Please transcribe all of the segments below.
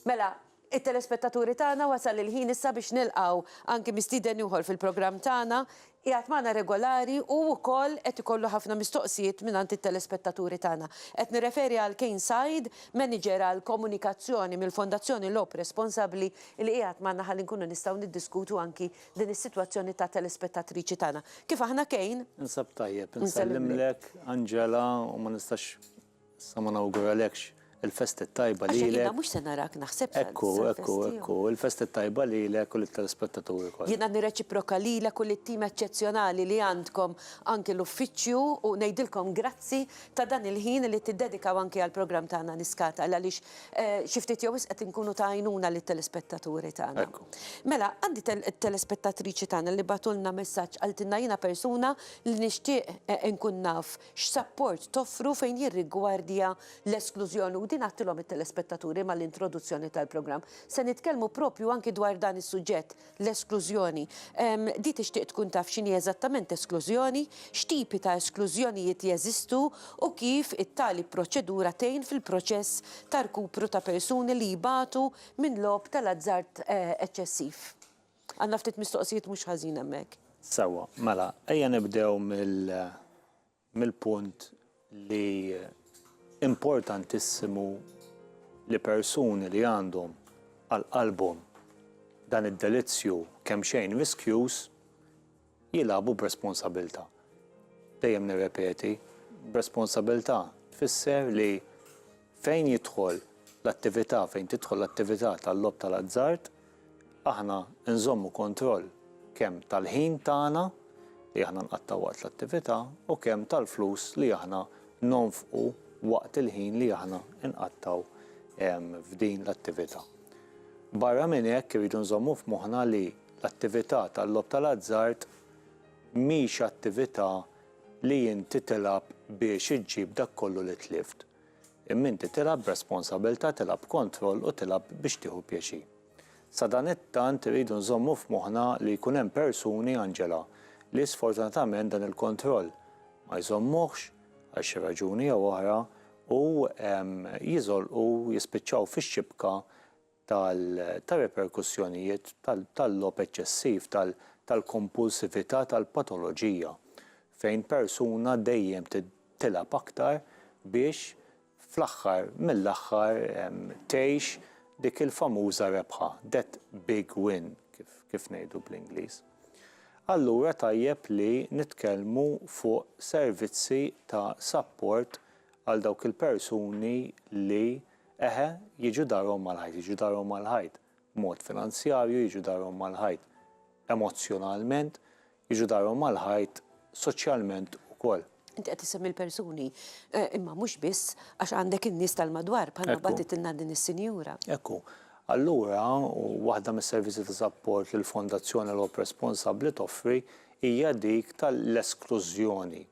Mela, it-telespettaturi tagħna wasal il-ħin issa biex nilqgħu anki mistieden ieħor fil-programm tagħna. Qiegħed magħna regolari u wkoll qed ikollu ħafna mistoqsijiet mingħand it-telespettaturi tagħna. Qed nirreferi għal Kane Said, Manager għall-Komunikazzjoni mill-Fondazzjoni Lob Responsabbli li qiegħed magħna ħalli nkunu nistgħu niddiskutu anki din is-sitwazzjoni ta' telespettatriċi tagħna. Kif aħna Kane? Ninsab tajjeb, insellimlek Angela u ma nistax Sa ma nawguralekx il-festa t-tajba lilek. Għax jiena mhux se narak naħseb sal-festa tiegħu. Ekku, ekku, ekku, il-festa t-tajba lilek u lit-telespettaturi kollha. Jiena nirreċiproka lilek u lit-tim eċċezzjonali li għandkom anki l-uffiċċju u ngħidilkom grazzi ta' dan il-ħin li tiddedikaw anki għall-programm tagħna Niskata għaliex xi ftit jew wisq qed inkunu ta' għajnuna lit-telespettaturi tagħna. Mela, għandi telespettatriċi tagħna li bagħtulna messaġġ qaltilna jiena persuna li nixtieq inkun naf x'sapport toffru fejn jirrigwardja l-esklużjoni u din għadtilhom it-telespettaturi mal-introduzzjoni tal-programm. Se nitkellmu proprju anki dwar dan is-suġġett, l-esklużjoni. Di tixtieq tkun taf x'inhi eżattament esklużjoni, x'tipi ta' esklużjonijiet jeżistu u kif it-tali proċedura tgħin fil-proċess ta' rkupru ta' persuni li jbatu minn logħob tal-azzard eċċessiv. Għandna ftit mistoqsijiet mhux ħażin hemmhekk. Sewwa, mela ejja nibdew mill-punt li importantissimu li persuni li għandhom għal qalbhom dan id-delizzju kemxejn riskjuż Jilagħbu b'responsabilità. Dejjem nirrepeti, b'responsabilità tfisser li fejn jidħol l-attività, fejn tidħol l-attività tal-logħob tal-azzard, aħna nżommu kontroll kemm tal-ħin tagħna li aħna nqattgħu waqt l-attività u kemm tal-flus li aħna nonfqu waqt il-ħin li aħna nqattgħu f'din l-attività. Barra minn hekk irridu nżommu f'moħħna li L-attività tal-logħob tal-azzard mhix attività li inti tilgħab biex iġġib dak kollu li tlift, imma inti tilgħab b'responsabilità, tilgħab b'kontroll u tilgħab biex tieħu pjaċir. Sadanittant irridu nżommu f'moħħna li jkun hemm persuni, Angela, li sfortunatament dan il-kontroll ma jżommuhx għal xi raġuni jew oħra u jiżolqu, jispiċċaw fix-xibka tar-riperkussjonijiet tal-logħob eċċessiv, tal-kompulsività, tal-patoloġija, fejn persuna dejjem tilgħab aktar biex fl-aħħar mill-aħħar tgħix dik il-famuża rebħa, that big win, kif ngħidu bl-Ingliż. Allura tajjeb li nitkellmu fuq servizzi ta' sapport għal dawk il-persuni li Eħe, jiġu darhom mal-ħajt, jiġu darhom mal-ħajt b'mod finanzjarju, jiġu darhom mal-ħajt emozzjonalment, jiġu darhom mal-ħajt soċjalment ukoll. Inti qed issemmi l-persuni, imma mhux biss, għax għandek in-nies tal-madwar bħalma batitilna din is-sinjura. Ekku. Allura, waħda mis-servizzi ta' sapport li l-Fondazzjoni L-Ħobb Responsabbli toffri hija dik tal-esklużjoni.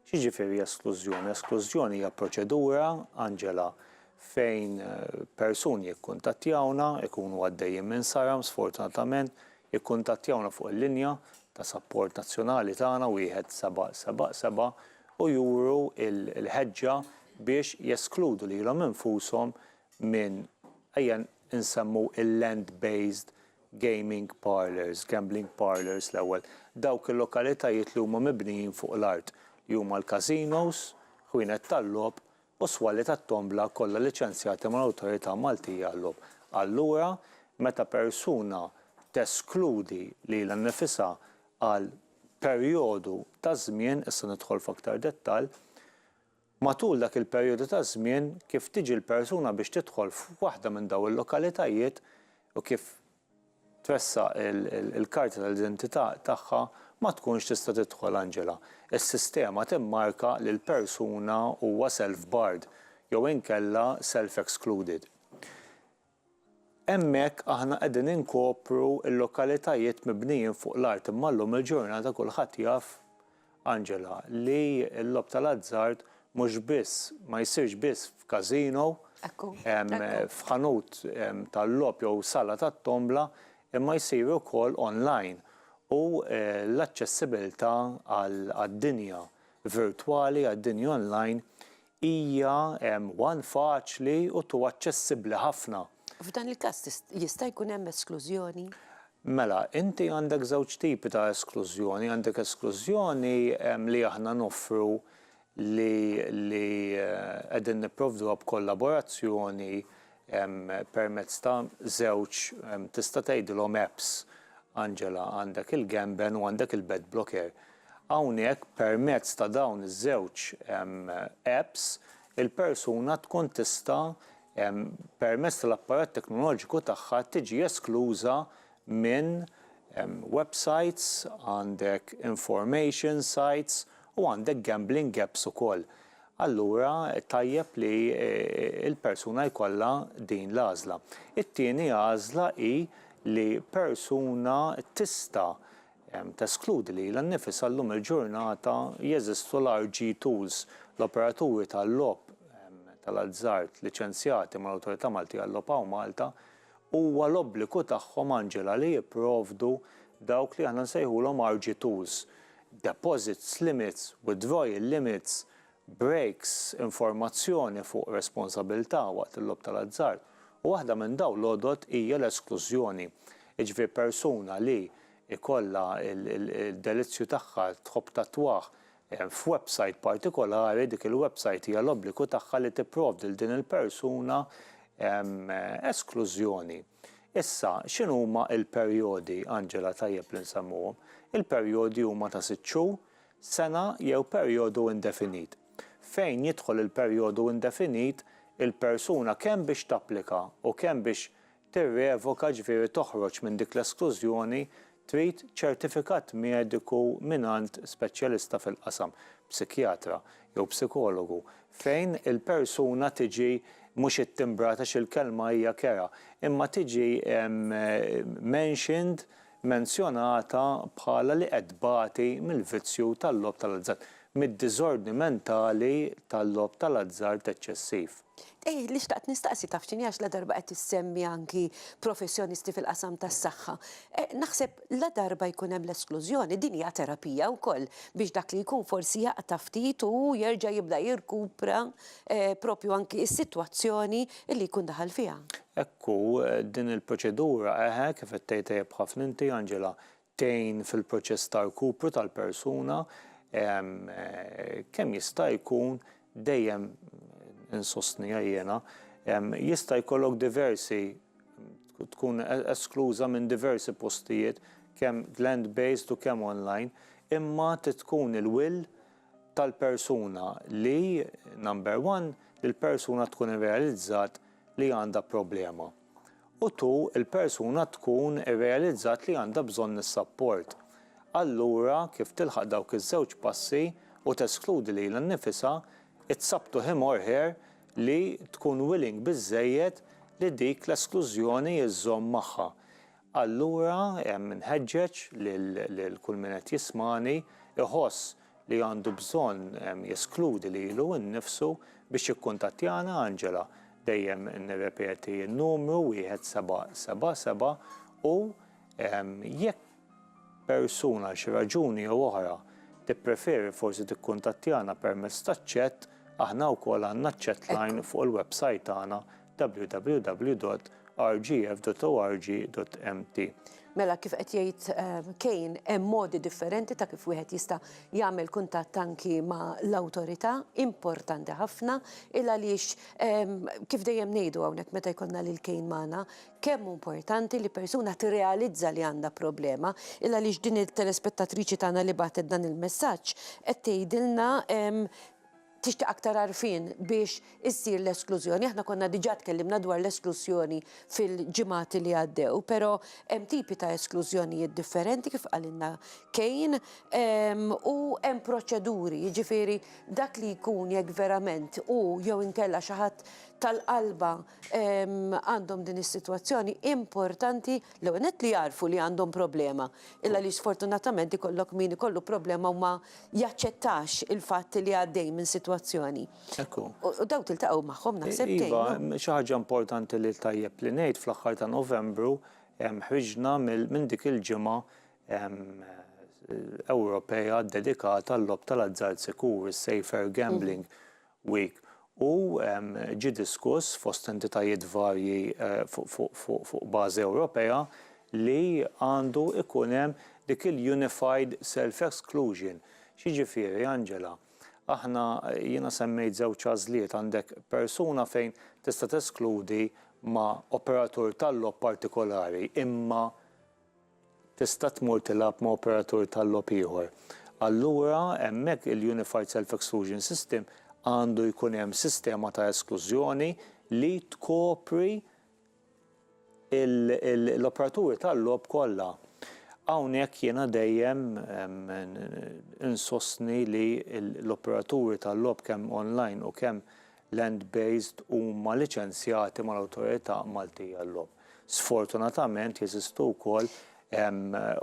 X'jiġifieri esklużjoni? Esklużjoni hija proċedura, Angela, fejn persuni jikkuntattjawna, ikunu għaddejjin minn saram sfortunatament, jikkuntattjawna fuq il-linja ta' sapport nazzjonali tagħna 1777 u juru l-ħeġġa biex jeskludu lilhom infushom minn, ejja nsemmu il-land-based gaming parlours, gambling parlours l-ewwel, dawk il-lokalitajiet li huma mibnijin fuq l-art, li huma l-casinos, ħwienet tal-logħob u s-swali tat-tombla kollha liċenzjati mal-Awtorità Maltija għal-Logħob. Allura, meta persuna teskludi lilha nnifisha għal perjodu ta' żmien, issa nidħol f'aktar dettall, Matul dak il-perjodu ta' żmien kif tiġi l-persuna biex tidħol f'waħda minn dawn il-lokalitajiet u kif tressaq il-karta tal-identità tagħha ma tkunx tista' tidħol Angela. Is-sistema timmarka li l-persuna huwa self-barred jew inkella self-excluded. Hemmhekk aħna qegħdin inkopru l-lokalitajiet mibnijin fuq l-art imma llum il-ġurnata kulħadd jaf, Angela, li l-logħob tal-azzard mhux biss, ma jsirx biss f'casino, f'ħanut tal-logħob jew sala tat-tombla imma jsir ukoll online u l-aċċessibilità għad-dinja virtwali, għad-dinja online Hija one faċli u two aċċessibbli ħafna. F'dan il-każ jista' jkun hemm esklużjoni? Mela, inti għandek żewġ tipi ta' esklużjoni, għandek esklużjoni li aħna noffru li li qegħdin nipprovduha b'kollaborazzjoni permezz ta' żewġ tista' tgħidilhom apps, Angela, għandek il-Gamben u għandek il-Bed Blocker. Hawnhekk permezz ta' dawn iż-żewġ apps il-persuna tkun tista' permezz tal-apparat teknoloġiku tagħha tiġi eskluża minn websites, għandek information sites u għandek gambling apps ukoll. Allura tajjeb li l-persuna jkollha din l-għażla. It-tieni għażla hi li persuna tista' Teskludi lilha nnifisha llum il-ġurnata jeżistu l-RG Tools, l-operaturi tal-logħob tal-azzard liċenzjati mal-Awtorità Maltija għal-Logħob u Malta huwa l-obbligu tagħhom Angela li jipprovdu dawk li aħna nsejħulhom RG Tools, deposits limits, withdrawal limits, breaks, informazzjoni fuq responsabilità waqt il-logħob tal-azzard, u waħda minn dawn l-għodod hija l-esklużjoni. Jiġifieri persuna li jkollha d-delizzju tagħha, tħobb tattwah, f'websajt partikolari, dik il-websajt hija l-obbligu tagħha li tipprovdi 'l din il-persuna esklużjoni. Issa, x'inhuma l-perjodi, Angela, tajjeb li nsemmuhom? Il-perjodi huma ta' sitt xhur, sena jew perjodu indefinit. Fejn jidħol il-perjodu indefinit, il-persuna kemm biex tapplika u kemm biex tirrevoka ġifieri toħroġ minn dik l-esklużjoni trid ċertifikat mediku mingħand speċjalista fil-qasam, psikjatra jew psikologu, fejn il-persuna tiġi mhux ittimbrat għax il-kelma hija kerha, imma tiġi mentioned menzjonata bħala li qed tbati mill-vizzju tal-logħob tal-azzard, mid-diżordni mentali tal-logħob tal-azzard eċċessiv. Ih, li xtaqt nistaqsi taf x'inhi għax ladarba qed issemmi anki professjonisti fil-qasam tas-saħħa. Naħseb ladarba jkun hemm l-esklużjoni, din hija terapija wkoll biex dak li jkun forsi jaqta' ftit u jerġa' jibda jirkupra proprju anki s-sitwazzjoni li jkun daħal fiha. Hekk hu, din il-proċedura, eħe, kif qed tgħid tajjeb ħafna inti, Angela, tgħin fil-proċess ta' rkupru tal-persuna, kemm jista' jkun dejjem insostniha jiena, jista' jkollok diversi, tkun eskluża minn diversi postijiet, kemm land-based u kemm online, imma trid tkun il-will tal-persuna li, number one, li l-persuna tkun irrealizzat li għandha problema, u two, il-persuna tkun irrealizzat li għandha bżonn is-sapport. Allura, kif tilħaq dawk iż-żewġ passi u teskludi lilha nnifisha, it's up to him or her li tkun willing biżżejjed li dik l-esklużjoni żżomm magħha. Allura nħeġġeġ lil kull min qed jismagħni jħoss li għandu bżonn jeskludi lilu nnifsu biex jikkuntattjana, Angela, dejjem nirrepeti n-numru wieħed seba' seba' seba' u jekk persuna għal xi raġuni jew oħra tippreferi forsi tikkuntattjana permezz taċ-chat, aħna wkoll għandna ċ-chatline fuq il-websajt tagħna www.rgf.org.mt. Mela kif qed jgħid ehm, kejn hemm modi differenti ta' kif wieħed jista' jagħmel kuntatt anki ma' l-awtorità importanti ħafna il għaliex ehm, kif dejjem ngħidu hawnhekk meta jkollna lil kejn magħna kemm importanti li persuna tirrealizza li għandha problema il għaliex din il-telespettatriċi tagħna li bagħtet dan il-messaġġ qed tgħidilna ehm, tixtieq aktar għarfien biex issir l-esklużjoni. Aħna konna diġà tkellimna dwar l-esklużjoni fil-ġimgħat li għaddew, però hemm tipi ta' esklużjonijiet differenti kif qalilna Kane ehm, u hemm proċeduri, jiġifieri dak li jkun jekk verament u jew inkella xi ħadd tal-qalba ehm, għandhom din is-sitwazzjoni importanti l-ewwel li jarfu li għandhom problema. Illa li sfortunatament ikollok min ikollu problema u ma jaċċettax il-fatt li għaddej minn sitwazzjoni. Hekk hu. U dawk tiltaqgħu magħhom naħseb tgħinhom. Iva, xi ħaġa importanti li tajjeb li ngħid fl-aħħar ta' Novembru ħriġna minn dik il-ġimgħa Ewropea ddedikata għal-logħob tal-azzard sikur, is-safer gambling. Week u ġie diskuss fost entitajiet varji fuq bażi Ewropea li għandu jkun hemm dik il-unified self-exclusion. X'jiġifieri, Angela? Aħna, jiena semmejt żewġ għażliet, għandek persuna fejn tista' teskludi ma' operatur tal-logħob partikolari imma Tista' tmur tilgħab ma' operatur tal-logħob ieħor. Allura, hemmhekk il-Unified Self-Exclusion System għandu jkun hemm sistema ta' esklużjoni li tkopri l-operaturi tal-logħob kollha. Hawnhekk jiena dejjem insostni li l-operaturi tal-logħob kemm online u kemm land-based huma liċenzjati mal-Awtorità Maltija llum. Sfortunatament jeżistu wkoll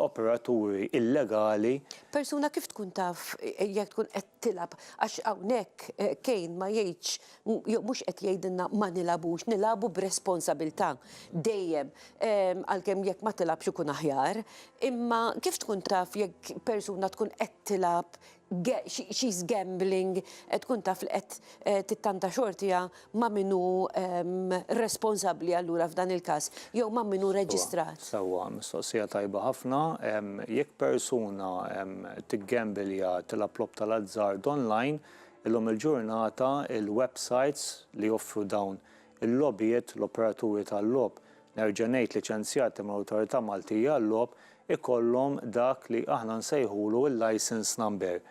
operaturi illegali. Persuna kif tkun taf jekk tkun qed tilgħab għax hawnhekk Kane ma jgħidx jew mhux qed jgħidilna ma nilgħabux, nilagħbu b'responsabilità dejjem għalkemm jekk ma tilgħabx ikun aħjar. Imma kif tkun taf jekk persuna tkun qed tilgħab she's gambling, tkun taf li qed tittanta xortiha ma' min hu responsabbli allura f'dan il-każ, jew ma' min hu reġistrat. Sewwa, mistoqsija tajba ħafna. Jekk persuna tiggambilja, tilgħab logħob tal-azzard online, illum il-ġurnata l-websites li joffru dawn il-logħbiet, l-operaturi tal-logħob, Nerġa' ngħid liċenzjati mill-Awtorità Maltija għal-Logħob ikollhom dak li aħna nsejħulu l-licence number.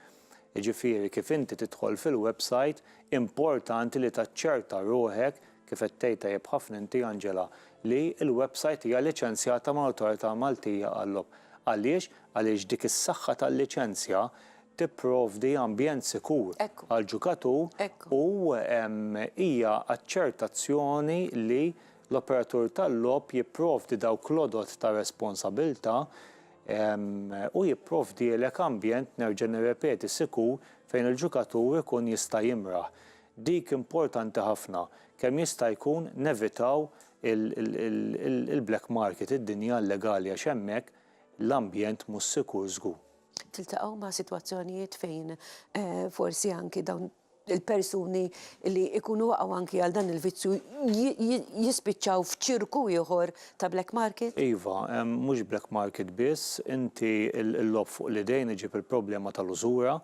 Jiġifieri kif inti tidħol fil-website importanti li taċċerta ruħek, kif qed tgħid tajjeb ħafna inti Angela, li l-website hija liċenzjata mal-Awtorità Maltija għal-Logħob. Għaliex? Għaliex dik is-saħħa tal-liċenzja tipprovdi ambjent sikur għall-ġukatur u hija aċċertazzjoni li L-operatur tal-logħob jipprovdi dawk l-għodod ta' responsabilità u jipprovdielek ambjent, nerġa' nirrepeti, sikur fejn il-ġukatur ikun jista' jimraħ. Dik importanti ħafna. Kemm jista' jkun nevitaw il-black market, id-dinja illegali għax hemmhekk l-ambjent mhux sikur żgur. Tiltaqgħu ma' sitwazzjonijiet fejn forsi anki dawn il-persuni li jkunu waqgħu anki għal dan il-vizzju jispiċċaw f'ċirku ieħor ta' black market? Iva, mhux black market biss, inti l-logħob fuq l-idejn iġib il-problema tal-użura,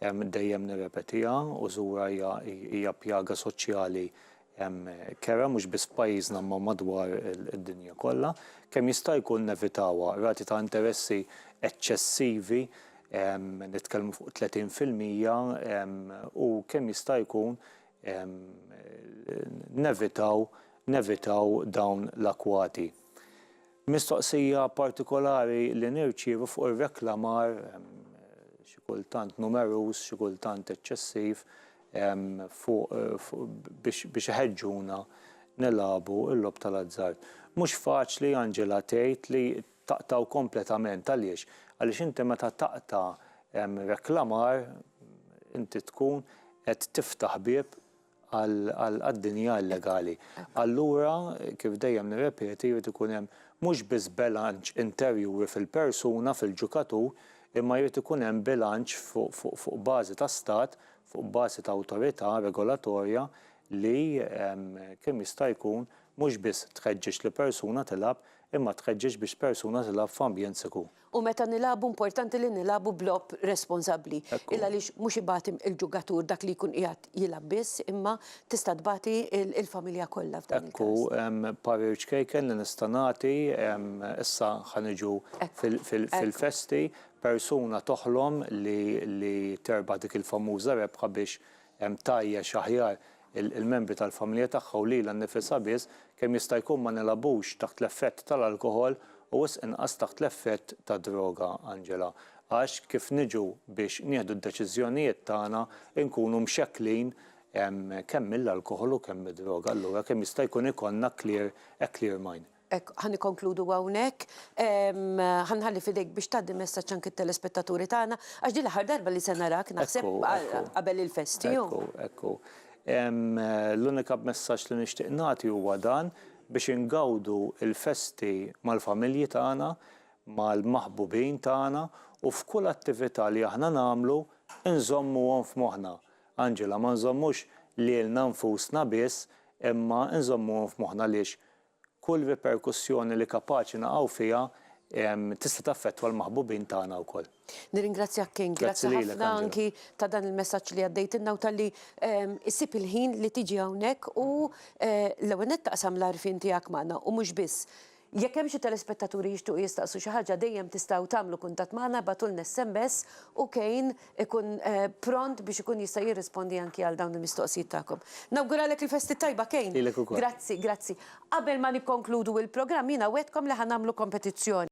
dejjem nirrepetiha, użura hija pjaga soċjali hemm kera mhux biss f'pajjiżna imma madwar id-dinja kollha, kemm jista' jkun nevitawha. Rati ta' interessi eċċessivi, nitkellmu fuq 30 fil-mija, u kemm jista' jkun nevitaw nevitaw dawn l-akwati. Mistoqsija partikolari li nirċievu fuq ir-reklamar, xi kultant numeruż, xi kultant eċċessiv, biex iħeġġuna nilagħbu l-logħob tal-azzard. Mhux faċli, Angela, tgħid li taqtgħu kompletament. Għaliex? Għaliex inti meta taqta' reklamar, inti tkun qed tiftaħ bieb għad-dinja illegali. Allura, kif dejjem nirrepeti, jrid ikun hemm mhux biss belanċ interjuri fil-persuna, fil-ġukatur, imma jrid ikun hemm bilanċ fuq bażi ta' stat, fuq bażi ta' awtorità regolatorja li kemm jista' jkun mhux biss tħeġġeġ lill-persuna tilgħab imma tħeġġeġ biex persuna tilgħab f'ambjent sikur. U meta nilagħbu importanti li nilagħbu b'logħob responsabbli. Il għaliex mhux ibati il-ġugatur dak li jkun qiegħed jilgħab biss imma tista' tbati il-familja kollha f'dan il-każ. Ekku parir ċkejken li nista' nagħti, issa ħa niġu fil-festi, persuna toħlom li terbaħ dik il-famuża rebħa biex tgħajjex aħjar il-membri tal-familja tagħha u lilha nnifisha biss, kemm jista' jkun ma nilagħbux taħt l-effett tal-alkoħol u wisq inqas taħt l-effett tad-droga, Angela, għax kif niġu biex nieħdu d-deċiżjonijiet tagħna nkunu mxekklin kemm mill-alkoħol u kemm mid-droga, allura kemm jista' jkun ikollna clear, a clear mind. Hekk, ħa nikkonkludu hawnhekk. Ħa nħalli f'idejk biex tgħaddi messaġġ anki t-telespettaturi tagħna, għax din l-aħħar darba li se narak, naħseb, qabel il-festi. Ekku, ekku. L-unika messaġġ li nixtieq nagħti huwa dan, biex ingawdu l-festi mal-familji tagħna, mal-maħbubin tagħna, u f'kull attività li aħna nagħmlu, inżommuhom f'moħħna. Angela, ma nżommux lilna nfusna biss, imma inżommuhom f'moħħna għaliex Kull riperkussjoni li kapaċi naqgħu fiha tista' taffettwa l-maħbubin tagħna wkoll. Nirringrazzjak King, grazzi ħafna anki ta' dan il-messaġġ li għaddejtilna u talli ssib il-ħin li tiġi hawnhekk u l-ewwel nett taqsam l-għarfien tiegħek magħna u mhux biss. Jekk hemm xi telespettaturi jixtiequ jistaqsu xi ħaġa dejjem tistgħu tagħmlu kuntatt magħna, ibgħatulna sms u Kane ikun pront biex ikun jista' jirrispondi anki għal dawn il-mistoqsijiet tagħkom. Nawguralek il-festi t-tajba Kane. Lilek ukoll. Grazzi, grazzi. Qabel ma nikkonkludu l-programm jiena wegħdtkom li ħa nagħmlu kompetizzjoni.